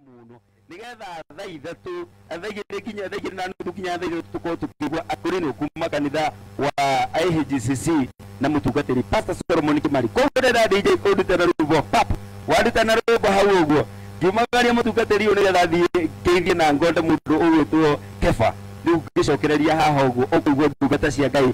mũno nigetha thaa ithatũ thaa igĩrĩ nginya thaa igĩrĩ na nuthu nginya thaa ithatũ tũkorwo tũkĩigua akũrinũ kuma kanitha wa IHGCC na mũtungatĩri Pastor Solomon Kimari koguo ndĩrenda DJ ũndute na rwĩmbo pap wanduta na rwĩmbo hau ũguo ngiumagaria mũtungatĩri ũyũ nĩgetha thiĩ ngeithie na ngonde mũndũ ũgwĩtwo Kefa rĩu ngĩcokereria haha ũguo ũkũigua ndungata cia Ngai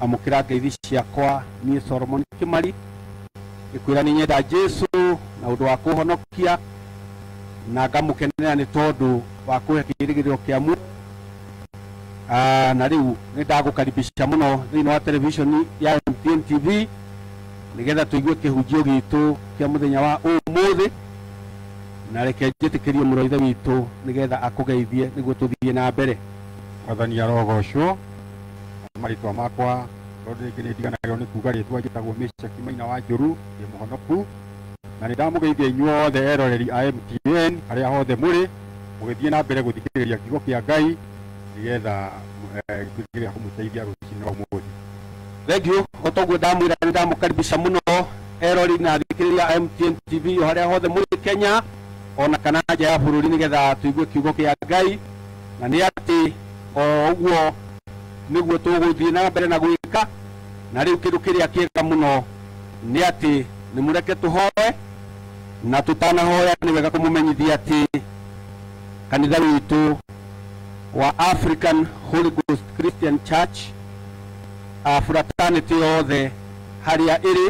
amũkĩra ngeithi ciakwa niĩ Solomon Kimari ngĩkwĩra nĩ nyenda Jesu na ũndũ wa kũhonokia na ngamũkenera nĩ tondũ wa kũhe kĩĩrĩgĩrĩro kĩa muoyo Ah, na rĩu nĩ ndagũkaribisha mũno thĩinĩ wa televishoni ya MTN TV nĩgetha tũigue kĩhunjio gitũ kĩa mũthenya wa ũmũthĩ na reke njĩtĩkĩrie mũrũ wa ithe witũ nĩgetha akũgeithie nĩguo tũthiĩ na mbere mwathani arogocwo marĩtwa makwa tondũ rĩngĩ nĩ ndiganagĩrwo nĩ kuga rĩtwa njĩtagwo Meshaki Maina wa Njũru ndĩ mũhonoku na nĩ ndamũgeithia inyuothe eroreri a MTN harĩa hothe mũrĩ mũgĩthiĩ na mbere gũthikĩrĩria kiugo kĩa Ngai nĩgetha eh, gĩtuĩke gĩa kũmũteithia rũcinĩ rwa ũmũthĩ thengiũ o toguo ndamwĩra nĩ ndamũkaribisha mũno erori na thikĩrĩria a MTN TV o harĩa hothe mũrĩ Kenya ona kana nja ya bũrũri nĩgetha tũigue kiugo kĩa Ngai na nĩ atĩ o ũguo nĩguo tũgũthiĩ na mbere na gwĩka na rĩu kĩndũ kĩrĩa kĩega mũno nĩ atĩ nĩ mũreke tũhoe na tũtanahoya nĩ wega kũmũmenyithia atĩ kanitha witũ wa African Holy Ghost Christian Church a fraternity yothe harĩa ĩrĩ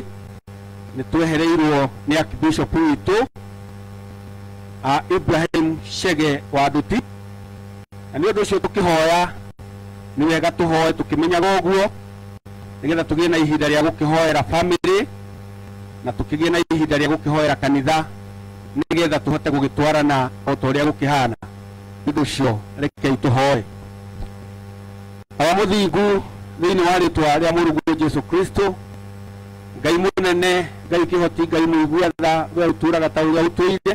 nĩ twehereirwo nĩ Archbishop witũ a Ibrahim Shege wa Nduti na nĩ ũndũ ũcio tũkĩhoya nĩ wega tũhoe tũkĩmenyaga ũguo nĩgetha tũgĩe na ihinda rĩa gũkĩhoera family na tũkĩgĩe na ihinda rĩa gũkĩhoera kanitha nĩgetha tũhote gũgĩtwarana o ta ũrĩa gũkĩhana nĩ ũndũ ũcio rekei tũhoe baba mũthingu thĩinĩ wa rĩtwa rĩa mũrungu jesu kristo ngai mũnene ngai kĩhoti ngai mũigua tha we ũtũraga ta ũrĩa ũtũire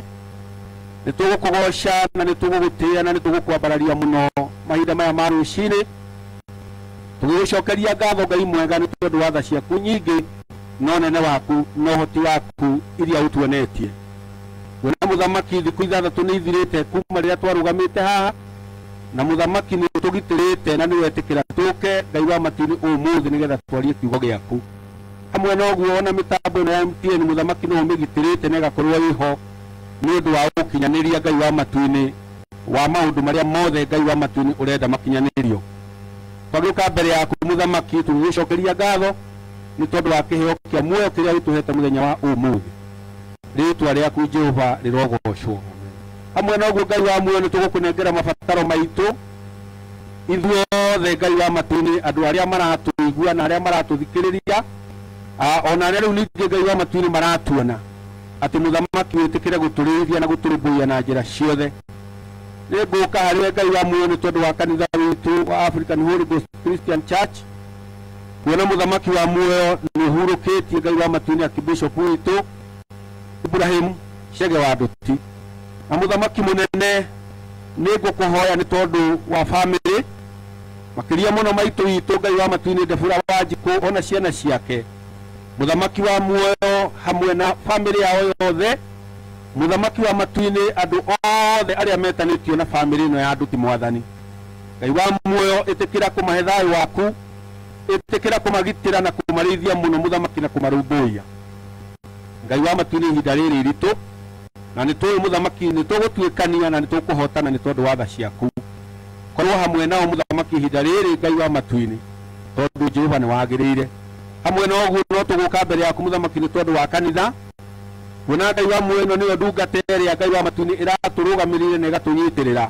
nĩ tũgũkũgoca na nĩ tũgũgũtĩa na nĩ tũgũkwambararia mũno mahinda maya ma rũcinĩ tũgĩgũcokeria ngatho ngai mwega nĩ tondũ wa tha ciaku nyingĩ na ũnene waku na ũhoti waku iria ũtuonetie we nĩ mũthamaki thikũ ithathatũ nĩ ithirĩte kuma rĩrĩa twarũgamĩte haha na mũthamaki nĩ ũtũgitĩrĩte na nĩ wetĩkĩra tũke ngai wa matu-inĩ ũmũthĩ nĩgetha twarie kiugo gĩaku Hamwe na ũguo, ona mĩtambo ĩno ya MTN mũthamaki no ũmĩgitĩrĩte na ĩgakorwo ĩho nĩ ũndũ wa ũkinyanĩria Ngai wa matu-inĩ wa maũndũ marĩa mothe Ngai wa matu-inĩ ũrenda makinyanĩrio. Twagĩũka mbere yaku mũthamaki, tũgĩgĩcokeria ngatho nĩ tondũ wa kĩheo kĩa muoyo kĩrĩa ũtũhete mũthenya wa ũmũthĩ. Rĩĩtwa rĩaku Jehova rĩrogocwo. Hamwe na ũguo Ngai wa muoyo, nĩ tũgũkũnengera mabataro maitũ, Ithuothe Ngai wa matu-inĩ, andũ arĩa maratũigua na arĩa maratũthikĩrĩria, ah, o na arĩa rĩu ningĩ Ngai wa matu-inĩ maratuona, atĩ mũthamaki wĩtĩkĩre gũtũrĩithia na gũtũrũmbũiya na njĩra ciothe. Nĩ ngũka harĩ Ngai wa muoyo nĩ tondũ wa kanitha witũ wa African Holy Ghost Christian Church, kuona mũthamaki wa muoyo nĩ ũhurũkĩtie Ngai wa matu-inĩ akibishop witũ Ibrahim Chege wa Nduti na mũthamaki mũnene nĩ ngũkũhoya nĩ tondũ wa bamĩrĩ makĩria mũno maitũ witũ ngai wa matuinĩ ndebura wa njikũ ona ciana ciake mũthamaki wa muoyo hamwe na bamĩrĩ yao yothe mũthamaki wa matuinĩ andũ othe arĩa metanĩtio na bamĩrĩ ĩno ya nduti mwathani ngai wa muoyo ĩtĩkĩra kũmahe thayũ waku ĩtĩkĩra kũmagitĩra na kũmarĩithia mũno mũthamaki na kũmarũmbũiya ngai wa matuinĩ ihinda rĩrĩ iritũ na nĩ tũĩ mũthamaki nĩ tũgũtuĩkania na nĩ tũkũhotana nĩ tondũ wa tha ciaku korwo hamwe nao mũthamaki ihinda rĩrĩ ngai wa matu-inĩ tondũ jehova nĩ wagĩrĩire hamwe na ũguo no tũgũka mbere yaku mũthamaki nĩ tondũ wa kanitha kuona ngai wa muoyo ĩno nĩyo ndungata ĩrĩa ngai wa matu-inĩ ĩratũrũgamĩrĩire na ĩgatũnyitĩrĩra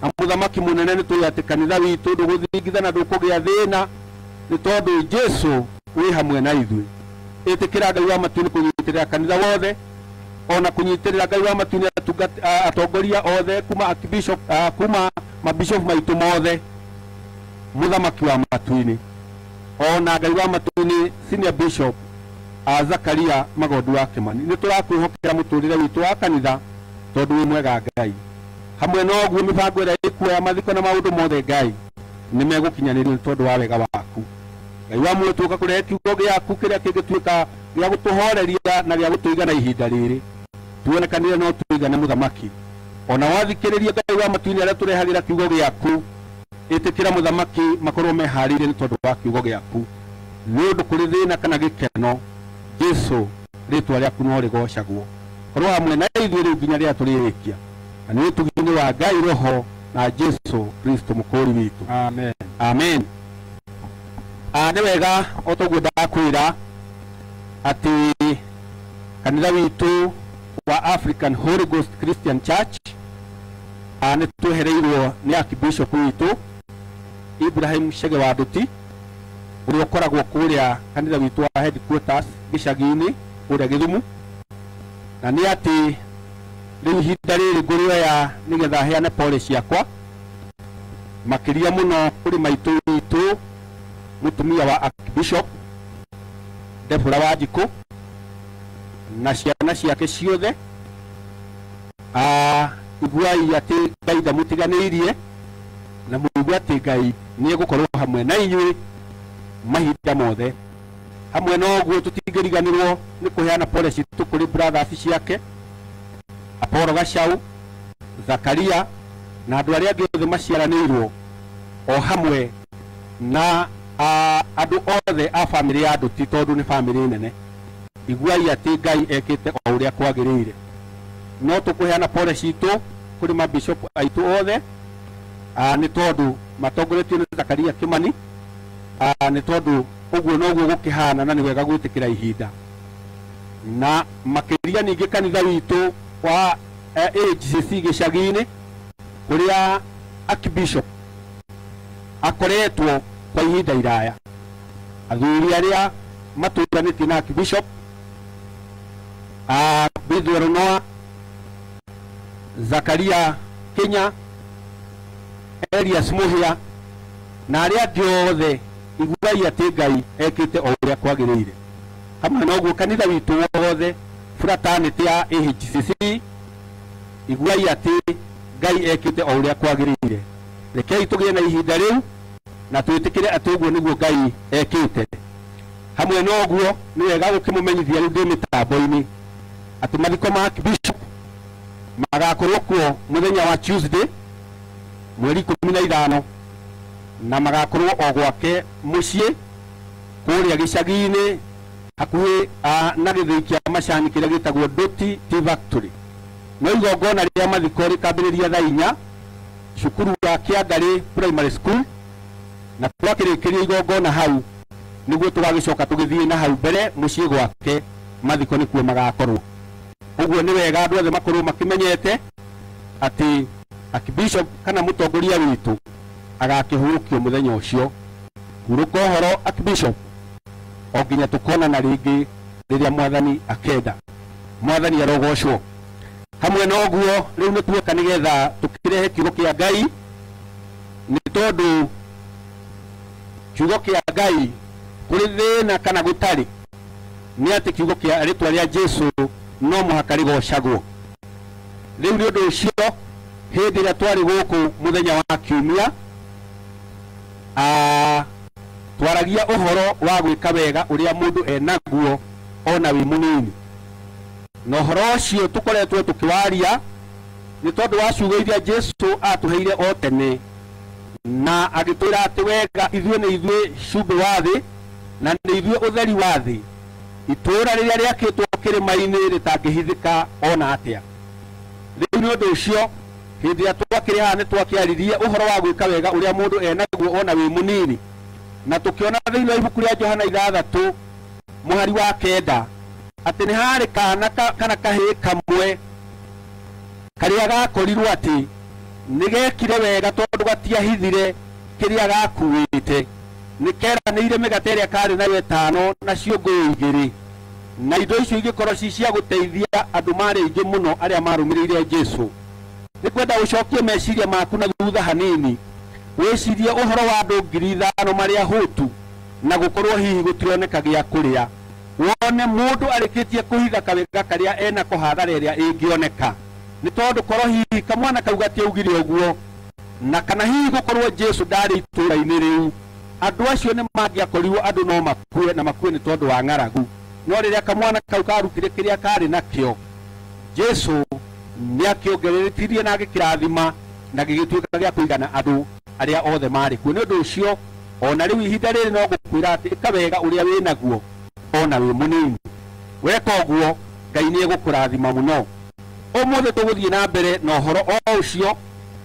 na mũthamaki mũnene nĩ tũĩ atĩ kanitha witũ ndũgũthingitha na ndũkũgĩa thĩna nĩ tondũ jesu wĩ hamwe na ithuĩ ĩtĩkĩra ngai wa matu-inĩ kũnyitĩrĩra kanitha wothe o na kũnyitĩrĩra ngai wa matu nĩ atungat- a- atongoria othe kuma archbishop a, kuma mabishop maitũ mothe mũthamaki wa matu-inĩ o na ngai wa matu-inĩ senior bishop a zakaria magondu wa kĩmani nĩ tũrakwĩhokera mũtũrĩre witũ wa kanitha tondũ wĩ mwega ngai hamwe na ũguo mĩbango ĩrĩa ĩkuoya mathiko na maũndũ mothe ngai nĩ megũkinyanĩrio nĩ tondũ wa wega waku ngai wa muoyo tũka kũrehe kiugo gĩaku kĩrĩa kĩngĩtuĩka gĩa gũtũhooreria na gĩa gũtũigana ihinda rĩrĩ. Tuonekanire no tũigane, Mũthamaki. O na wathikĩrĩrie Ngai wa matu-inĩ arĩa ũtũrehagĩra kiugo gĩaku, ĩtĩkĩra, Mũthamaki, makorũo mehaarĩirie nĩ tondũ wa kiugo gĩaku. Nĩ ũndũ kũrĩ thĩna kana gĩkeno, Jesu, rĩĩtwa rĩaku no rĩgoocagwo. Korũo hamwe na ithuĩ rĩu nginya rĩrĩa tũrĩrĩkia. Na nĩ ũtugi-inĩ wa Ngai Roho na Jesu Kristo Mũkũũri witũ. Amen. Amen. Ah, nĩ wega o toguo ndakwĩra atĩ kanitha witũ wa African Holy Ghost Christian Church ah, nĩ twehereirwo nĩ Archbishop witũ Ibrahim Chege wa Nduti ũrĩa ũkoragwo kũrĩa kanitha witũ wa headquarters gĩcagi-inĩ kũrĩa Gĩthumu na nĩ atĩ rĩu ihinda rĩrĩ ngũrĩoya nĩgetha heane pole ciakwa makĩria mũno kũrĩ maitũ witũ mũtumia wa Archbishop Debora wa Njikũ na ciana ciake ciothe Ah, iguai atĩ ngai ndamũtiganĩirie na mũigue atĩ ngai nĩ egũkorwo hamwe na inyuĩ mahinda mothe hamwe na ũguo tũtingĩriganĩrwo nĩ kũheana pole citũ kũrĩ brothers ciake Apolo Gacaũ Zakaria na andũ arĩa angĩ othe maciaranĩirwo o hamwe na ah, andũ othe a bamĩrĩ ya Nduti tondũ nĩ bamĩrĩ nene. Iguai atĩ Ngai ekĩte o ũrĩa kwagĩrĩire. No tũkũheana pole citũ kũrĩ mabishopu aitũ othe ah, nĩ tondũ matongoretio nĩ Zakaria Kimani ah, nĩ tondũ ũguo noguo gũkĩhana na nĩ wega gwĩtĩkĩra ihinda na makĩria ningĩ kanitha witũ wa AHCC gĩcagi-inĩ kũrĩa Archbishop akoretwo kwa ihinda iraya. Athuri arĩa matũnganĩtie na Archbishop a Bidwell Noah, Zakaria Kinya, Elias Muhia na arĩa angĩ othe iguai atĩ Ngai ekĩte o ũrĩa kwagĩrĩire. Hamwe na ũguo kanitha witũ wothe Fraternity ya AHCC, iguai atĩ Ngai ekĩte o ũrĩa kwagĩrĩire. Rekei tũgĩe na ihinda rĩu na twĩtĩkĩre atĩ ũguo nĩguo Ngai ekĩte. Hamwe na ũguo, nĩ wega gũkĩmũmenyithia rĩu ndĩ mĩtambo-inĩ atĩ mathiko ma Bishop magakorwo kuo mũthenya wa Tuesday mweri ikũmi na ithano na magakorwo o gwake mũciĩ kũrĩa gĩcagi-inĩ hakuhĩ ah, na gĩthĩi kĩa macani kĩrĩa gĩtagwo Doti Tea Factory. No igongona rĩa mathiko rĩkambĩrĩria thaa inya cukuru wa Kĩangarĩ Primary School, na twakĩrĩkĩria igongona hau nĩguo tũgagĩcoka tũgĩthiĩ na hau mbere mũciĩ gwake, mathiko nĩkuo magakorwo. Ũguo nĩ wega andũ othe makorwo makĩmenyete atĩ Archbishop kana mũtongoria witũ agakĩhurũkio mũthenya ũcio. Hurũka ũhoro Archbishop. o nginya tũkonana rĩngĩ rĩrĩa mwathani akenda mwathani arogocwo hamwe na ũguo rĩu nĩ tuoka nĩ getha tũkĩrehe kiugo kĩa ngai nĩ tondũ kiugo kĩa ngai kũrĩ thĩna kana gũtarĩ nĩ atĩ kiugo kĩa rĩtwa rĩa jesu no mũhaka rĩgocagwo rĩu nĩ ũndũ ũcio hĩndĩ ĩrĩa twarĩ gũkũ mũthenya wa kiumia A Twaragia ũhoro wa gwĩka wega ũrĩa mũndũ e naguo o na wĩ mũnini. Na ũhoro ũcio tũkoretwo tũkĩwaria nĩ tondũ wa ciugo iria Jesu aatũheire o tene, na agĩtwĩra atĩ, Wega, ithuĩ nĩ ithuĩ cumbĩ wa thĩ, na nĩ ithuĩ ũtheri wa thĩ. Itũũra rĩrĩa rĩakĩtwo kĩrĩma-inĩ rĩtangĩhithĩka o na atĩa. Rĩu nĩ ũndũ ũcio, Hĩndĩ ĩrĩa twakĩrĩ haha nĩ twakĩaririe ũhoro wa gwĩka wega ũrĩa mũndũ e naguo o na wĩ mũnini, na tũkĩona thĩinĩ wa ibuku rĩa Johana ithathatũ mũhari wa kenda atĩ nĩ harĩ kaana ka, kana kahĩĩ kamwe karĩa gakorirwo atĩ nĩ gekire wega tondũ gatiahithire kĩrĩa gakuĩte. Nĩ keranĩire mĩgate ĩrĩa karĩ nayo ĩtano na ciũngũyũ igĩrĩ. Na indo icio igĩkorwo ci cia gũteithia andũ maarĩ aingĩ mũno arĩa maarũmĩrĩire Jesu. Nĩ ngwenda ũcokie meciria maku na thutha hanini wĩcirie ũhoro wa andũ ngiri ithano marĩ ahũtu na gũkorũo hihi gũtironeka gĩa kũrĩa. Wone mũndũ arĩkĩtie kũhitha kawega karĩa e nako hathara ĩrĩa ĩngĩoneka nĩ tondũ korũo hihi kamwana kau gatiaugire ũguo na kana hihi gũkorũo Jesu ndaarĩ itũũra-inĩ rĩu, andũ acio nĩ mangĩakorirũo andũ no makue. makue na makue nĩ tondũ wa ng'aragu no rĩrĩa kamwana kau karutire kĩrĩa karĩ nakĩo jesu nĩ akĩongereretirie na agĩkĩrathima na gĩgĩtuĩka gĩa kũigana andũ arĩa othe marĩ kuo nĩ ũndũ ũcio o na rĩu ihinda rĩrĩ no ngũkwĩra atĩ ĩka wega ũrĩa wĩ naguo o na wĩ mũnini weka ũguo ngai nĩ egũkũrathima mũno ũmũthĩ tũgũthiĩ na mbere na ũhoro o ũcio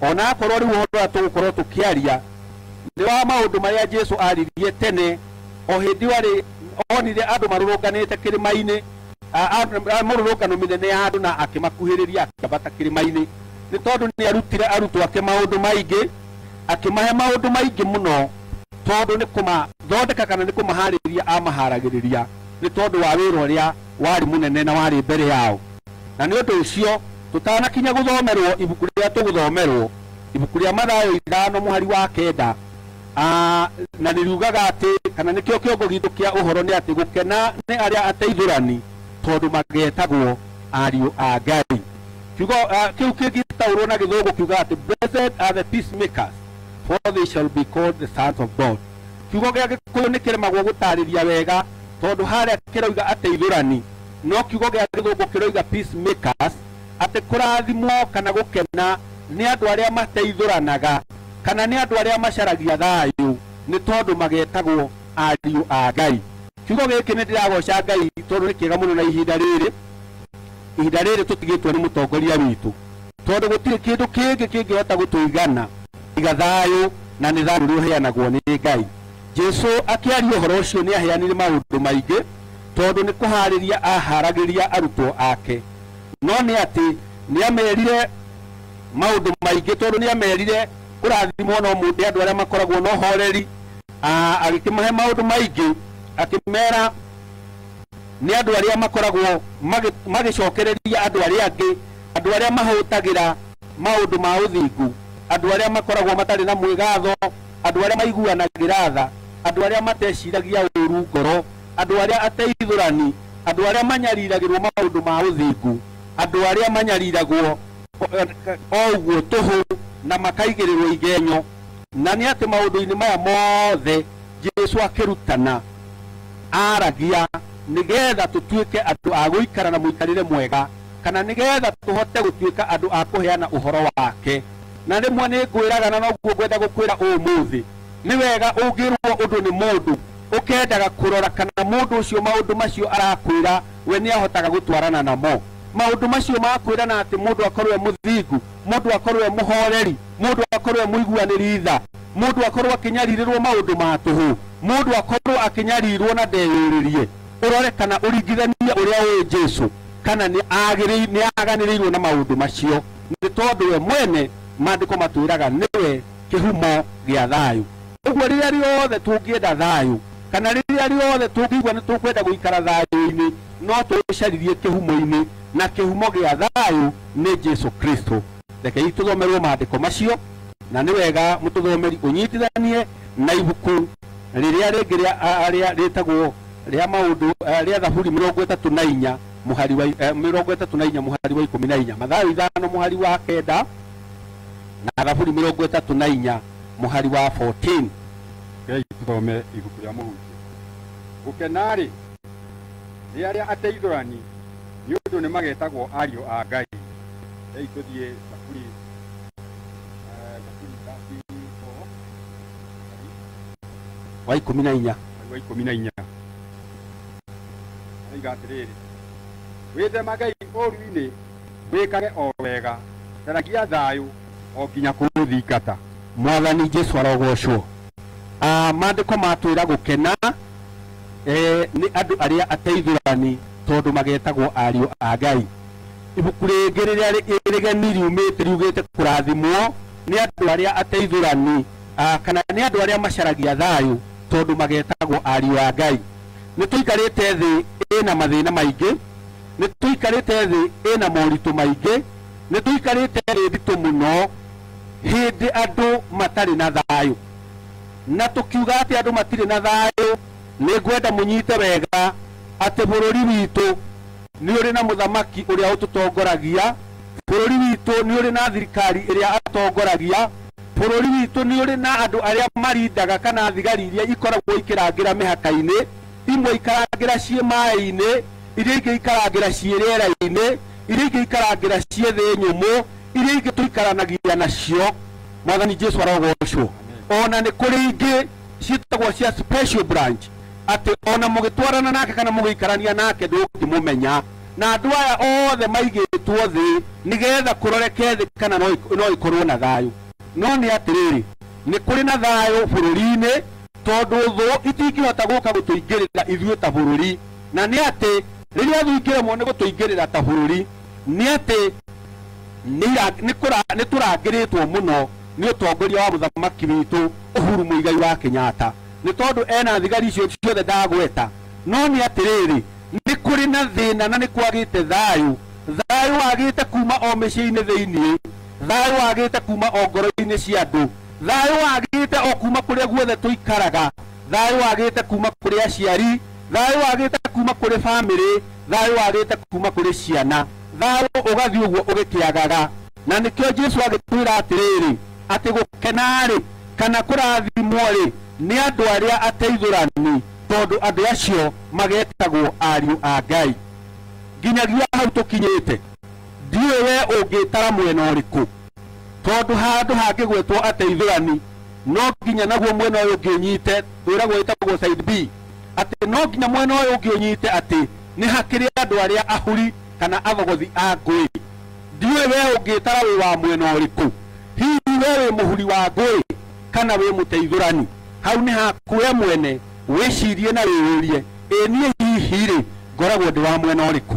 ona akorwo rĩu ũhoro ũrĩa tũgũkorwo tũkĩaria nĩ wa maũndũ marĩa jesu aririe tene o hĩndĩ warĩ onire andũ marũrũnganĩte kĩrĩma-inĩ, mũrũrũngano mĩnene ya andũ, na akĩmakuhĩrĩria akĩambata kĩrĩma-inĩ, nĩ tondũ nĩ arutire arutwo ake maũndũ maingĩ, akĩmahe maũndũ maingĩ mũno, tondũ nĩ kũmathondeka kana nĩ kũmaharĩria amaharagĩrĩria nĩ tondũ wa wĩra ũrĩa warĩ mũnene na warĩ mbere yao. Na nĩ ũndũ ũcio tũtanakinya gũthomerwo ibuku rĩrĩa tũgũthomerwo, ibuku rĩa Mathayo ithano mũhari wa kenda, A Na nĩ riugaga atĩ, kana nĩkĩo kĩongo gitũ kĩa ũhoro nĩ atĩ, gũkena nĩ arĩa ateithũrani, tondũ magetagwo ariũ a Ngai. Kiugo a, kĩu kĩngĩtaũrũo na Gĩthũngũ kiugaga atĩ, Blessed are the peacemakers, for they shall be called the sons of God. Kiugo gĩa Gĩkũyũ nĩ kĩremagwo gũtaarĩria wega, tondũ harĩa kĩroiga ateithũrani, no kiugo gĩa Gĩthũngũ kĩroiga peacemakers, atĩ kũrathimwo kana gũkena nĩ andũ arĩa mateithũranaga. kana nĩ andũ arĩa macaragia thayũ, nĩ tondũ magetagwo ariũ a Ngai. Kiugo gĩkĩ nĩ ndĩragoca Ngai tondũ nĩ kĩega mũno na ihinda rĩrĩ, ihinda rĩrĩ tũtigĩtwo nĩ mũtongoria witũ, tondũ gũtirĩ kĩndũ kĩngĩ kĩngĩhota gũtũigana tiga thayũ, na nĩ thayũ ũrĩa ũheanagwo nĩ Ngai. Jesu akĩaria ũhoro ũcio nĩ aheanire maũndũ maingĩ, tondũ nĩ kũharĩria aharagĩria arutwo ake, no nĩ atĩ nĩ amerire, maũndũ maingĩ tondũ nĩ amerire kũrathimwo no mũndũ andũ arĩa makoragwo na ũhoreri Ah, agĩkĩmahe maũndũ maingĩ akĩmera nĩ andũ arĩa makoragwo magĩ- magĩcokereria andũ arĩa angĩ andũ arĩa mahũtagĩra maũndũ ma ũthingu andũ arĩa makoragwo matarĩ na mwĩgatho andũ arĩa maiguanagĩra tha andũ arĩa mateciragia ũũru ngoro andũ arĩa ateithũrani andũ arĩa manyariragĩrwo maũndũ ma ũthingu andũ arĩa manyariragwo o ũguo tũhũ na makaigĩrĩrwo igenyo, na nĩ atĩ maũndũ-inĩ maya mothe Jesu akĩrutana, aaragia nĩ getha tũtuĩke andũ a gũikara na mũikarĩre mwega, kana nĩ getha tũhote gũtuĩka andũ a kũheana ũhoro wake. Na rĩmwe nĩ ngwĩraga, na noguo ngwenda gũkwĩra ũmũthĩ, nĩ wega ũngĩrwo ũndũ nĩ mũndũ, ũkendaga kũrora kana mũndũ ũcio maũndũ macio arakwĩra we nĩ ahotaga gũtwarana namo. Maũndũ macio ma kwĩrana atĩ mũndũ akorwo e mũthingu, mũndũ akorwo e mũhoreri, mũndũ akorwo e mũiguanĩri tha, mũndũ akorwo akĩnyarirĩrwo maũndũ ma tũhũ, mũndũ akorwo akĩnyarirwo na ndeyũrĩrie, ũrore kana ũringithanie ũrĩa ũĩ Jesu kana nĩ agĩrĩirwo, nĩ aganĩrĩirwo na maũndũ macio, nĩ tondũ we mwene Maandĩko matwĩraga nĩwe kĩhumo gĩa thayũ. Ũguo rĩrĩa rĩothe tũngĩenda thayũ, kana rĩrĩa rĩothe tũngĩigua nĩ tũkwenda gũikara thayũ-inĩ, no tũũcarithie kĩhumo-inĩ, na kĩhumo gĩa thayũ nĩ Jesu Kristo. Rekei tũthomerũo maandĩko macio, na nĩ wega mũtũthomeri ũnyitithanie na ibuku rĩrĩa rĩngĩ rĩa rĩtagwo rĩa Maũndũ rĩa Thaburi mĩrongo ĩtatũ na inya mũhari wa mĩrongo ĩtatũ na inya mũhari wa ikũmi na inya, Mathayo ithano mũhari wa kenda, na Thaburi mĩrongo ĩtatũ na inya mũhari wa 14. Rekei tũthome ibuku rĩa Mũhunjia. Gũkena-rĩ, nĩ arĩa ateithũrani, nĩ ũndũ nĩmagetagwo ariũ a Ngai. Rekei tũthiĩ Thaburi, eh, Thaburi 34, Wa ikũmi na inya. mweri wa ikũmi na inya oiga atĩrĩrĩ wĩthemagei ũũru-inĩ wĩkage o wega, caragia thayũ o nginya kũũthingata. Mwathani Jesu arogocwo. Ah, Maandĩko matwĩra gũkena eh, nĩ andũ arĩa ateithũrani tondũ magetagwo ariũ a Ngai. Ibuku rĩngĩ rĩrĩa rĩ- rĩgeni riumĩte riugĩte kũrathimwo nĩ andũ arĩa ateithũrani ah, kana nĩ andũ arĩa macaragia thayũ tondũ magetagwo ariũ a Ngai. Nĩ tũikarĩte thĩ ĩna mathĩna maingĩ nĩ tũikarĩte thĩ ĩna moritũ maingĩ, nĩ tũikarĩte thĩ nditũ mũno hĩndĩ andũ matarĩ na thayũ. Na tũkiuga atĩ andũ matirĩ na thayũ, nĩ ngwenda mũnyite wega atĩ bũrũri witũ nĩ ũrĩ na mũthamaki ũrĩa ũtũtongoragia, bũrũri witũ nĩ ũrĩ na thirikari ĩrĩa atongoragia, bũrũri witũ nĩ ũrĩ na andũ arĩa marindaga kana thigari iria ikoragwo ikĩrangĩra mĩhaka-inĩ. imwe ikarangĩra ciĩ maĩ-inĩ iria ingĩ ikarangĩra ciĩ rĩera-inĩ iria ingĩ ikarangĩra ciĩ thĩ nyũmũ iria ingĩ tũikaranagia nacio mwathani jesu arogocwo ona nĩ kũrĩ ingĩ ciĩtagwo cia special branch atĩ ona mũgĩtwarana nake kana mũgĩikarania nake ndũngĩmũmenya na andũ aya othe maigĩtwo thĩ nĩgetha kũroreke thĩ kana no ik- no ikorwo na thayũ no nĩ atĩrĩrĩ nĩ kũrĩ na thayũ bũrũri-inĩ tondũ thũ itingĩhota gũka gũtũingĩrĩra ithuĩ ta bũrũri na nĩ atĩ rĩrĩa thũ ingĩremwo nĩ gũtũingĩrĩra ta bũrũri nĩ atĩ nĩ tũrangĩrĩtwo mũno nĩ ũtongoria wa mũthamaki witũ Uhuru Muigai wa Kenyatta nĩ tondũ ena thigari icio ciothe ndagweta no nĩ atĩrĩrĩ nĩ kũrĩ na thĩna na nĩ kwagĩte thayũ thayũ wagĩte kuma o mĩciĩ-inĩ thĩinĩ thayũ wagĩte kuma o ngoro-inĩ cia andũ Thayũ wagĩte o kuuma kũrĩa guothe tũikaraga, thayũ wagĩte kuuma kũrĩ aciari, thayũ wagĩte kuuma kũrĩ famĩlĩ, thayũ wagĩte kuuma kũrĩ ciana, thayũ ũgathiĩ ũguo ũgĩkĩagaga. Na nĩkĩo Jesu agĩtwĩra atĩrĩrĩ, atĩ gũkena-rĩ, kana kũrathimwo-rĩ, nĩ andũ arĩa ateithũrani, tondũ andũ acio magetagwo ariũ a Ngai. Nginyagia hau tũkinyĩte, ndiũĩ wee ũngĩtara mwena ũrĩkũ, tondu handu hangigwetwo ateithurani no nginya naguo mwena uyu ngi unyite wiragwo witagwo side B ati no nginya mwena uyu ngi unyite ati ni hakiri andu aria ahuri kana athogothi a ngui ndiwe we ungitara wi wa mwena uriku hihi we wi muhuri wa ngui kana wi muteithurani hau ni haku we mwene wicirie na wiyurie ĩ niĩ hihi rĩ ngoragwo ndĩ wa mwena ũrĩkũ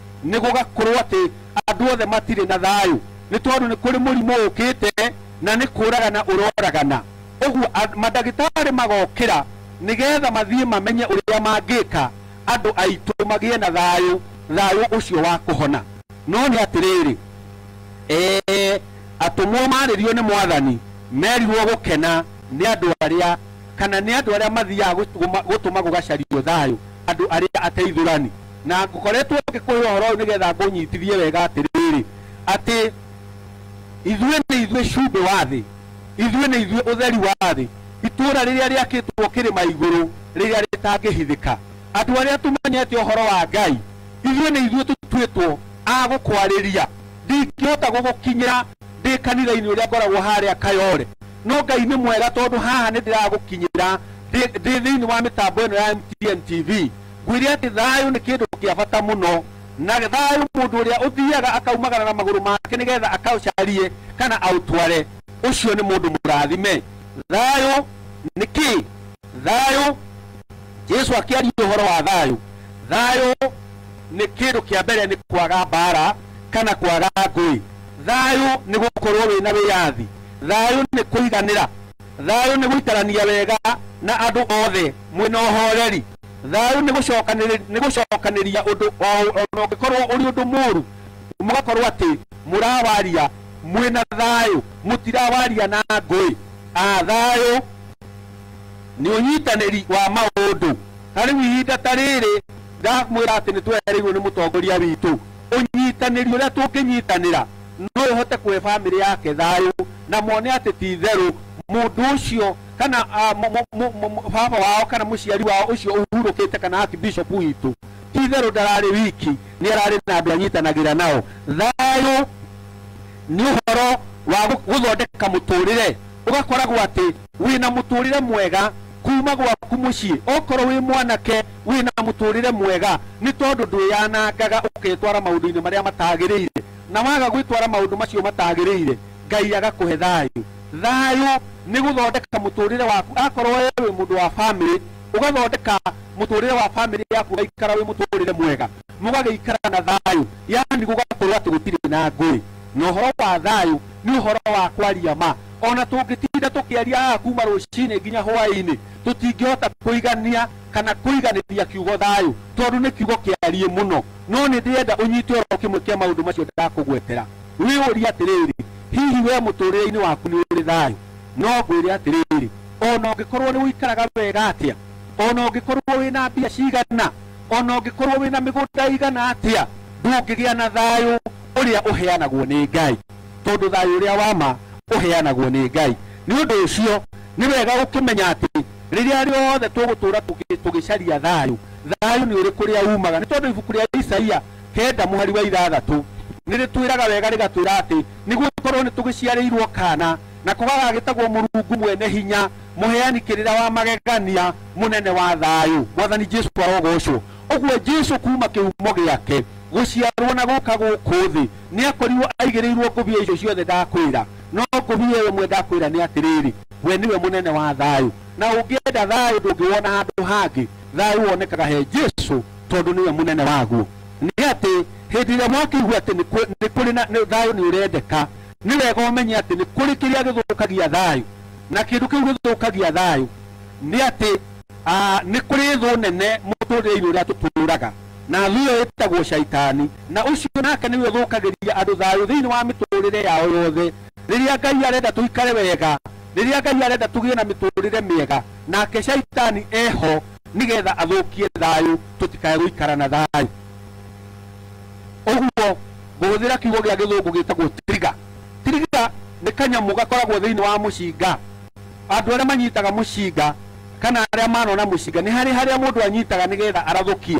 nĩ gũgakorwo atĩ andũ othe matirĩ na thayũ nĩ tondũ nĩ kũrĩ mũrimũ ũkĩte na nĩ kũragana ũroragana ũguo and- mandagĩtarĩ magokĩra nĩgetha mathiĩ mamenye ũrĩa mangĩka andũ aitũ magĩe na thayũ thayũ ũcio wa kũhona no nĩ atĩrĩrĩ ee atũmwo marĩrio nĩ mwathani merirwo gũkena nĩ andũ arĩa kana nĩ andũ arĩa mathiaga gũtũma- gũtũma gũgacario thayũ andũ arĩa ateithũrani Na ngoretwo ngĩkũhe ũhoro ũyũ nĩgetha ngũnyitithie wega atĩrĩrĩ, atĩ Ithuĩ nĩ ithuĩ cumbĩ wa thĩ, ithuĩ nĩ ithuĩ ũtheri wa thĩ, itũũra rĩrĩa rĩakĩtwo kĩrĩma igũrũ, rĩrĩa rĩtangĩhithĩka. Andũ arĩa tũmenyete ũhoro wa Ngai, ithuĩ nĩ ithuĩ tũtuĩtwo a gũkwarĩria. Ndingĩhota gũgũkinyĩra ndĩ kanitha-inĩ ũrĩa ngoragwo harĩa Kayole, no Ngai nĩ mwega tondũ haha nĩ ndĩragũkinyĩra ndĩ thĩinĩ wa mĩtambo ĩno ya MTN TV. Nguire atĩ thayũ nĩ kĩndũ kĩa bata mũno, na thayũ mũndũ ũrĩa ũthiaga akaumagara na magũrũ make nĩ getha akaũcarie kana aũtware, ũcio nĩ mũndũ mũrathime. Thayũ nĩ kĩ? Thayũ, Jesu akĩaria ũhoro wa thayũ, thayũ nĩ kĩndũ kĩa mbere nĩ kwaga mbara kana kwaga ngũĩ. Thayũ nĩ gũkorwo wĩ na wĩyathi. Thayũ nĩ kũiganĩra. Thayũ nĩ gũikarania wega na andũ othe mwĩ na ũhoreri. thayũ nĩ gũcokanĩrĩ- nĩ gũcokanĩria ũndũ o- ona ũngĩkorwo ũrĩ ũndũ mũũru mũgakorwo atĩ mũrawaria mwĩna thayũ mũtirawaria na ngũĩ Ah, thayũ nĩ ũnyitanĩri wa maũndũ ta rĩu ihinda ta rĩrĩ ndamwĩra atĩ nĩ twereirwo nĩ mũtongoria witũ ũnyitanĩri ũrĩa tũngĩnyitanĩra no ũhote kũhe bamĩrĩ yake thayũ na mone atĩ ti itherũ mũndũ ũcio kana ah, mu- mu- mu- mu- mu- baba wao kana muciari wao ucio uhurukite kana ati bishop witu ti itherũ ndararĩ wiki nĩ ararĩ na andũ anyitanagĩra nao thayũ nĩ ũhoro wa gũ- gũthondeka mũtũrĩre ũgakoragwo atĩ wĩna mũtũrĩre mwega kuma gwaku mũciĩ okorwo wĩ mwanake wĩna mũtũrĩre mwega nĩ tondũ ndwĩyanangaga ũketwara maũndũ-inĩ marĩa matagĩrĩire na waga gwĩtwara maũndũ macio matagĩrĩire ngai agakũhe thayũ Thayũ nĩ gũthondeka mũtũrĩre waku akorwo we wĩ mũndũ wa bamĩrĩ ũgathondeka mũtũrĩre wa bamĩrĩ yaku ũgaikara wĩ mũtũrĩre mwega mũgagĩikara na thayũ yani gũgakorwo atĩ gũtirĩ na ngũĩ na ũhoro wa thayũ nĩ ũhoro wa kwaria ma ona tũngĩtinda tũkĩaria haha kuma rũcinĩ nginya hwainĩ tũtingĩhota kũigania kana kũiganĩria kiugo thayũ tondũ nĩ kiugo kĩariĩ mũno no nĩ ndĩrenda ũnyite oro kĩmwe kĩa maũndũ macio ndakũgwetera. Wĩyũrie atĩrĩrĩ, 'Hihi wee mũtũũrĩre-inĩ waku nĩ ũrĩ thayũ? No ngwĩre atĩrĩrĩ, o na ũngĩkorũo nĩ ũikaraga wega atĩa, o na ũngĩkorũo wĩ na mbia cigana, o na ũngĩkorũo wĩ na mĩgũnda ĩigana atĩa, ndũngĩgĩa na thayũ ũrĩa ũheanagwo nĩ Ngai, tondũ thayũ ũrĩa wa ma ũheanagwo nĩ Ngai. Nĩ ũndũ ũcio, nĩ wega gũkĩmenya atĩ rĩrĩa rĩothe tũgũtũũra tũgĩcaria thayũ, thayũ nĩ ũrĩ kũrĩa uumaga, nĩ tondũ ibuku rĩa Isaia kenda mũhari wa ithathatũ nĩ rĩtwĩraga wega rĩgatwĩra atĩ nĩ gũkorwo nĩ tũgĩciarĩirwo kana na kũgagagĩtagwo mũrungu mwene hinya mũheani kĩrĩra wa magegania mũnene wa thayũ mwathani jesu arogocwo ũguo jesu kuma kĩhumo gĩake gũciarwo na gũka gũkũ thĩ nĩ akorirwo aigĩrĩirwo ngũbia icio ciothe ndakwĩra no ngũbia ĩyo ĩmwe ndakwĩra nĩ atĩrĩrĩ we nĩwe mũnene wa thayũ na ũngĩenda thayũ ndũngĩwona handũ hangĩ Thayũ wonekaga he Jesu tondũ nĩwe mũnene waguo. Nĩ atĩ hĩndĩ ĩrĩa wakĩigua atĩ nĩ kwĩ- nĩ kũrĩ na nĩ- thayũ nĩ ũrendeka, nĩ wega ũmenye atĩ nĩ kũrĩ kĩrĩa gĩthũkagia thayũ, na kĩndũ kĩu gĩthũkagia thayũ nĩ atĩ ah, nĩ kũrĩ thũ nene mũtũrĩre-inĩ ũrĩa tũtũũraga na thũ ĩyo ĩtagwo caitani na ũcio nake nĩwe ũthũkagĩria andũ thayũ thĩinĩ wa mĩtũrĩre yao yothe rĩrĩa ngai arenda tũikare wega rĩrĩa ngai arenda tũgĩe na mĩtũrĩre mĩega nake caitani eho nigetha athukie thayu tutikae guikara na thayu uguo nguhuthira kiugo gia githungu gitagwo trigger trigger ni kanyamu gakoragwo thiini wa mucinga andu aria manyitaga mucinga kana aria manona mucinga ni hari haria mundu anyitaga nigetha arathukie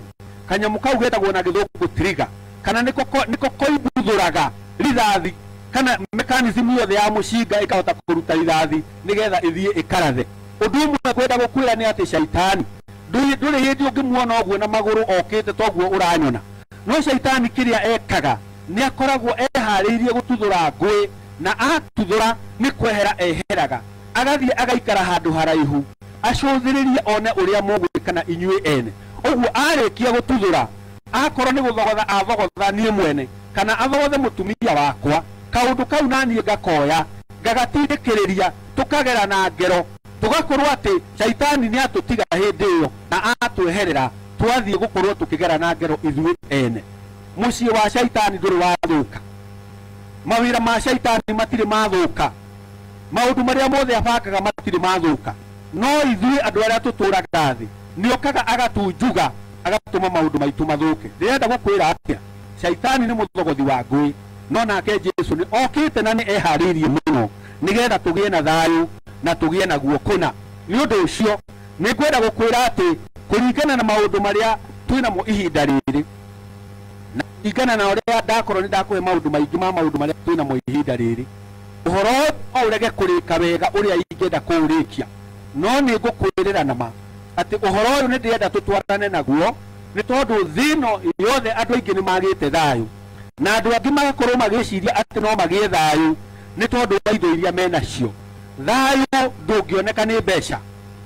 kanyamu kau getagwo na githungu trigger kana niko ko- niko koimbuthuraga rithathi kana mechanism yothe ya mucinga ikahota kuruta rithathi nĩgetha ĩthiĩ ĩkarathe. Ũndũ ũmwe ngwenda gũkwĩra nĩ atĩ Shaitani ndũrĩ ndũrĩ hĩndĩ ũngĩmuona ũguo na magũrũ okĩte toguo ũranyona. No Shaitani kĩrĩa ekaga nĩ akoragwo eharĩirie gũtuthũra ngũĩ na atuthũra nĩ kwehera eheraga agathiĩ agaikara handũ haraihu acũthĩrĩrie one ũrĩa mũgwĩkana inyuĩ ene. Ũguo arĩkia gũtuthũra akorwo nĩ gũthogotha athogotha niĩ mwene kana athothe mũtumia wakwa, kaũndũ kau naniĩ ngakoya ngagatindĩkĩrĩria, tũkagera na ngero, tũgakorwo atĩ Shaitani nĩatũtiga hĩndĩ ĩyo na atweherera, twathiĩ gũkorwo tũkĩgera na ngero ithuĩ ene. Mũciĩ wa Shaitani ndũrĩ wathũka, mawĩra ma Shaitani matirĩ mathũka, maũndũ marĩa mothe abangaga matirĩ mathũka, no ithuĩ andũ arĩa tũtũraga thĩ, nĩokaga agatunjuga, agatũma maũndũ maitũ mathũke. Ndĩrenda gũkwĩra atĩa? Shaitani nĩ mũthogothi wa ngũĩ, no nake Jesu nĩ okĩte na nĩ eharĩirie mũno nĩgetha tũgĩe na thayũ na tũgĩe naguo kũna. Nĩ ũndũ ũcio, nĩ ngwenda gũkwĩra atĩ kũringana na maũndũ marĩa twĩ namo ihinda rĩrĩ, na kũringana na ũrĩa ndakorwo nĩ ndakũhe maũndũ maingĩ ma maũndũ marĩa twĩ namo ihinda rĩrĩ, ũhoro ũyũ no ũrege kũrĩka wega ũrĩa ingĩenda kũũrĩkia, no nĩ ngũkwĩrĩra na ma atĩ ũhoro ũyũ nĩ ndĩrenda tũtwarane naguo, Nĩ tondũ thĩ ĩno yothe andũ aingĩ nĩ magĩte thayũ, na andũ angĩ magakorũo magĩciria atĩ no magĩe thayũ nĩ tondũ wa indo iria menacio. Thayũ ndũngĩoneka nĩ mbeca.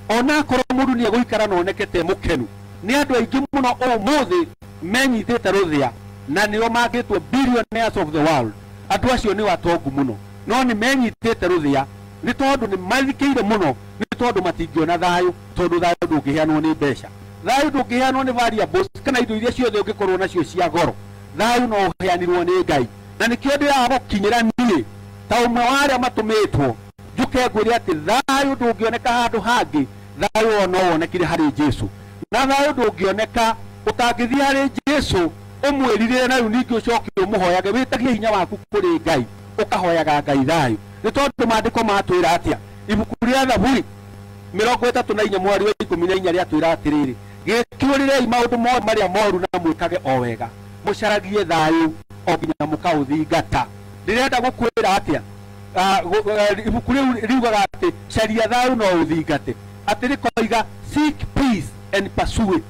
O na akorũo mũndũ nĩ egũikara na oneke te mũkenu, nĩ andũ aingĩ mũno ũmũthĩ menyitĩte rũthĩa, na nĩo mangĩtwo billionaires of the world, andũ acio nĩo atongu mũno, no nĩ menyitĩte rũthĩa nĩ tondũ nĩ mathikĩire mũno nĩ tondũ matingĩona thayũ, tondũ thayũ ndũngĩheanwo nĩ mbeca. Thayũ ndũngĩheanwo nĩ variables kana indo iria ciothe ũngĩkorũo nacio cia goro. Thayũ no ũheanirũo nĩ Ngai. Na nĩkĩo ndĩraga gũkinyĩra niĩ, ta ũmwe wa arĩa matũmĩtwo, njũke ngwĩre atĩ thayũ ndũngĩoneka handũ hangĩ, thayũ ũyũ no wonekire harĩ Jesu. Na thayũ ndũngĩoneka ũtangĩthiĩ harĩ Jesu, ũmwĩrirĩre na rĩu ningĩ ũcoke ũmũhoyage, wĩtagie hinya waku kũrĩ Ngai, ũkahoyaga Ngai thayũ. Nĩ tondũ Maandĩko matwĩra atĩa? Ibuku rĩa Thaburi. mĩrongo ĩtatũ na inya mweri wa ikũmi na inya rĩatwĩra atĩrĩrĩ gĩtuĩrĩrei maũndũ mothe marĩa moru na mwĩkage o wega mũcaragie thayũ o nginya mũkaũthingata ndĩrenda gũkwĩra atĩa Ah, gu- eh, ibuku rĩu riugaga atĩ caria thayũ no ũthingate atĩ rĩkoiga seek peace and pursue it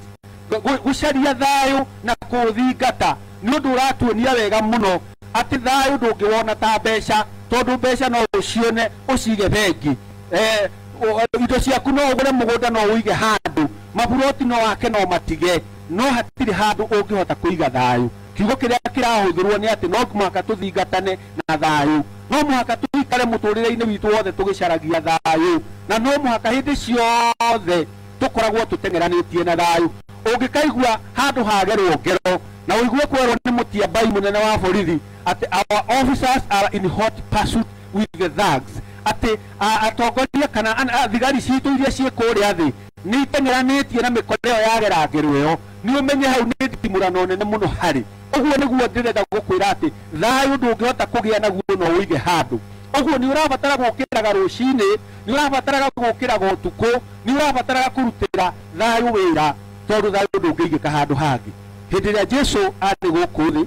Gu- gu- gũcaria thayũ na kũũthingata nĩ ũndũ ũratuonia wega mũno atĩ thayũ ndũngĩwona ta mbeca tondũ mbeca no ũcione ũcige bengi eh, o- indo ciaku no ũgũre mũgũnda no ũige handũ maburoti no wake no matige no hatirĩ handũ ũngĩhota kũiga thayũ kiugo kĩrĩa kĩrahũthĩrwo nĩ atĩ no mũhaka tũthingatane na thayũ no mũhaka tũikare mũtũrĩre-inĩ witũ wothe tũgĩcaragia thayũ na no mũhaka hĩndĩ ciothe tũkoragwo tũteng'eranĩtie na thayũ ũngĩkaigua handũ hagerwo ngero na ũigue kwerwo nĩ mũtiambai mũnene wa borithi atĩ our officers are in hot pursuit with the thugs atĩ a- atongoria kana an- a- thigari citũ iria ciĩ kũrĩa thĩ nĩ iteng'eranĩtie na mĩkora ĩyo yagerangĩrwo ĩyo nĩ ũmenye hau nĩ ndimũrano nene mũno harĩ ũguo nĩguo ndĩrenda gũkwĩra atĩ thayũ ndũngĩhota kũgĩa naguo no ũige handũ ũguo nĩ ũrabatara gũkĩraga rũcinĩ nĩ ũrabataraga gũkĩraga ũtukũ nĩ ũrabataraga kũrutĩra thayũ wĩra tondũ thayũ ndũngĩigĩka handũ hangĩ hĩndĩ ĩrĩa jesu arĩ gũkũ thĩ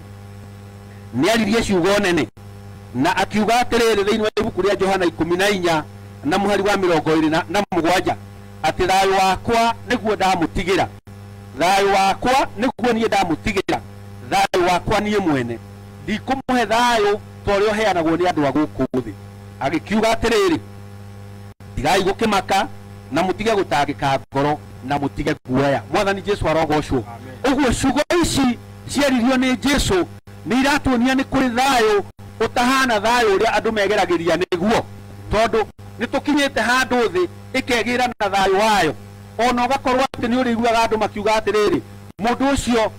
nĩ aririe ciugo nene Na akiuga atĩrĩrĩ thĩinĩ wa ibuku rĩa Johana ikũmi na inya na mũhari wa mĩrongo ĩrĩ na, na mũgwanja, atĩ thayũ wakwa nĩguo ndamũtigĩra, thayũ wakwa nĩguo niĩ ndamũtigĩra, thayũ wakwa niĩ mwene, ndikũmũhe thayũ ta ũrĩa ũheanagwo nĩ andũ a gũkũ thĩ. Agĩkiuga atĩrĩrĩ, tigai gũkĩmaka, na mũtige gũtangĩka ngoro, na mũtige guoya. Mwathani Jesu arogocwo. Ũguo ciugo ici cieririo nĩ Jesu nĩ iratuonia nĩ kũrĩ thayũ ũtahana thayũ ũrĩa andũ megeragĩria nĩguo, tondũ nĩ tũkinyĩte handũ thĩ ĩkegĩĩra na thayũ wayo, o na ũgakorwo atĩ nĩ ũrĩiguaga andũ makiuga atĩrĩrĩ, mũndũ ũcio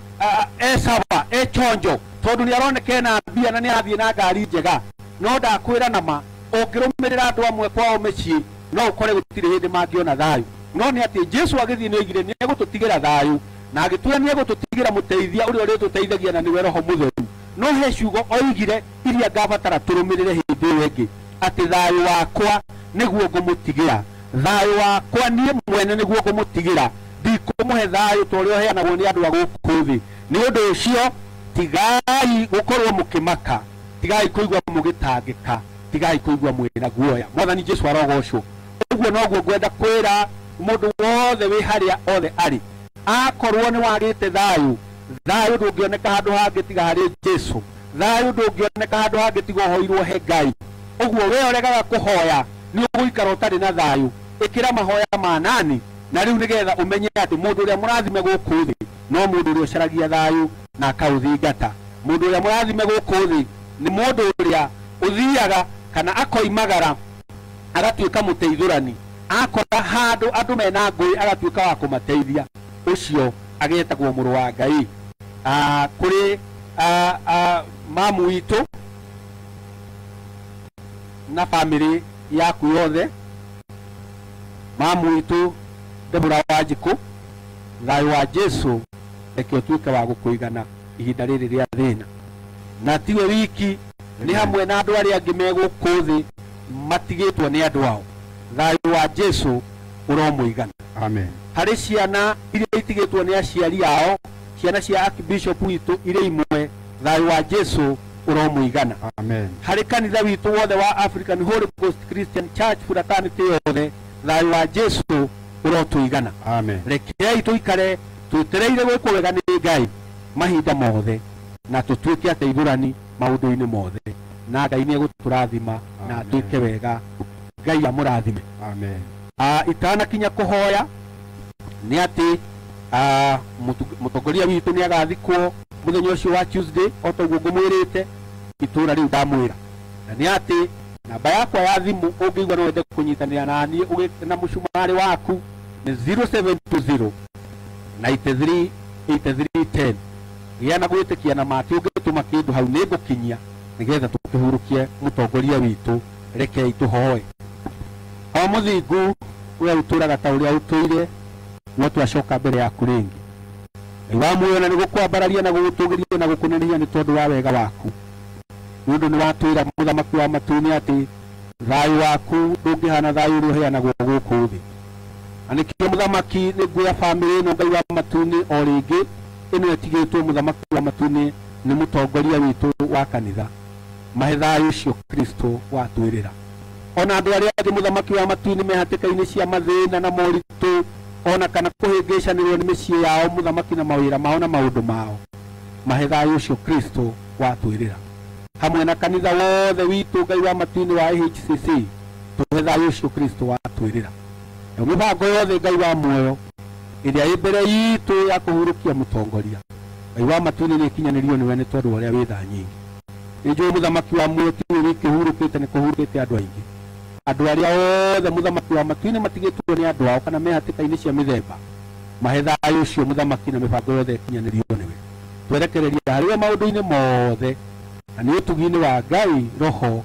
e sawa, e chonjo, tondũ nĩ aroneka ena mbia na nĩ arathiĩ na ngari njega. No ndakwĩra na ma, ũngĩrũmĩrĩra andũ amwe kwao mĩciĩ, no ũkore gũtirĩ hĩndĩ mangĩona thayũ. No nĩ atĩ Jesu agĩthiĩ nĩ oigire nĩ egũtũtigĩra thayũ, na agĩtwĩra nĩ egũtũtigĩra mũteithia ũrĩa ũrĩtũteithagia na nĩwe Roho Mũtheru. No he ciugo oigire iria ngabatara tũrũmĩrĩre hĩndĩ ĩyo ĩngĩ, atĩ thayũ wakwa nĩguo ngũmũtigĩra. Thayũ wakwa niĩ mwene nĩguo ngũmũtigĩra. Ndikũmũhe thayũ ta ũrĩa ũheanagwo nĩ andũ a gũkũ thĩ. Nĩ ũndũ ũcio, tigai gũkorũo mũkĩmaka, tigai kũigua mũgĩtangĩka, tigai kũigua mwĩ na guoya. Mwathani Jesu arogoocwo! ũguo noguo ngwenda kwĩra mũndũ wothe wĩ harĩa othe arĩ akorwo nĩ wagĩte thayũ thayũ ndũngĩoneka handũ hangĩ tiga harĩ jesu thayũ ndũngĩoneka handũ hangĩ tiga ũhoirwo he ngai ũguo we ũregaga kũhoya nĩ ũgũikara ũtarĩ na thayũ ĩkĩra mahoya ma nani na rĩu nĩgetha ũmenye atĩ mũndũ ũrĩa mũrathime gũkũ thĩ no mũndũ ũrĩa ũcaragia thayũ na akaũthingata mũndũ ũrĩa mũrathime gũkũ thĩ nĩ mũndũ ũrĩa ũthiaga kana akoimagara agatuĩka mũteithũrani akora handũ andũ mena ngũĩ agatuĩka wa kũmateithia ũcio agetagwo mũrũ wa ngai Ah, kũrĩ ah, ah, mamu witũ na bamĩrĩ yaku yothe mamu witũ ndebura wa njikũ thayũ wa jesu reke ũtuĩke wa gũkũigana ihinda rĩrĩ rĩa thĩna, na tiwe wiki, nĩ hamwe na andũ arĩa angĩ me gũkũ thĩ matigĩtwo nĩ andũ ao. Thayũ wa Jesu ũromũigana. Amen. Harĩ ciana iria itigĩtwo nĩ aciari ao, ciana cia Archbishop witũ irĩ imwe, thayũ wa Jesu ũromũigana. Amen. Harĩ kanitha witũ wothe wa African Holy Ghost Christian Church fraternity yothe, thayũ wa Jesu ũrotũigana. Amen. Rekei tũikare Twĩtereire gwĩkwo wega nĩ Ngai mahinda mothe na tũtuĩke ateithũrani maũndũ-inĩ mothe na Ngai nĩ egũtũrathima na twĩke wega. Ngai amũrathime. Amen. Ah, itanakinya kũhoya nĩ atĩ ah, mũtu- mũtongoria witũ nĩ agathikwo mũthenya ũcio wa Tuesday o ta ũguo ngũmwĩrĩte itũũra rĩu ndamwĩra na nĩ atĩ namba yakwa ya thimũ ũngĩigua no wende kũnyitanĩra na niĩ ũgĩ- na mũcumarĩ waku ni 0720 93 8310 gĩa na gwĩtĩkia na maki ũngĩtũma kĩndũ hau nĩ ngũkinyia nĩgetha tũkĩhurũkie mũtongoria witũ rekei tũhoe o mũthingu ũrĩa ũtũraga ta ũrĩa ũtũire no twacoka mbere yaku rĩngĩ ngai wa muoyo na nĩgũkwambararia na gũgũtũgĩria na gũkũneneia nĩ tondũ wa wega waku nĩ ũndũ nĩ watwĩra mũthamaki wa matu-inĩ atĩ thayũ waku ndũngĩhana thayũ ũrĩa ũheanagwo gũkũ thĩ Na nĩkĩo mũthamaki nĩngwĩra famĩlĩ ĩno Ngai wa matu-inĩ o rĩngĩ, ĩno ĩtigĩtwo mũthamaki wa matu-inĩ nĩ mũtongoria witũ wa kanitha. Mahe thayũ ũcio Kristo watwĩrĩra. O na andũ arĩa angĩ mũthamaki wa matu-inĩ me hatĩka-inĩ cia mathĩna na moritũ, o na kana kũhĩngĩcanĩrwo nĩ mĩciĩ yao, mũthamaki na mawĩra mao na maũndũ mao. Mahe thayũ ũcio Kristo watwĩrĩra. Hamwe na kanitha wothe witũ Ngai wa matu-inĩ wa AHCC. tũhe thayũ ũcio Kristo watwĩrĩra. Na mĩbango yothe Ngai wa muoyo ĩrĩa ĩ mbere itũ ya kũhurũkia mũtongoria Ngai wa matu-inĩ nĩ ĩkinyanĩrio nĩwe nĩ tondũ wa ũrĩa wĩ tha nyingĩ. Nĩ njũĩ mũthamaki wa muoyo ti we wiki ũhurũkĩte, nĩ kũhurũkĩte andũ aingĩ. Andũ arĩa othe mũthamaki wa matu-inĩ matigĩtwo nĩ andũ ao kana me hatĩka-inĩ cia mĩthemba, mahe thayũ ũcio mũthamaki na mĩbango yothe ĩkinyanĩrio nĩwe. Twerekereria harĩ we maũndũ-inĩ mothe na nĩ ũtugi-inĩ wa Ngai Roho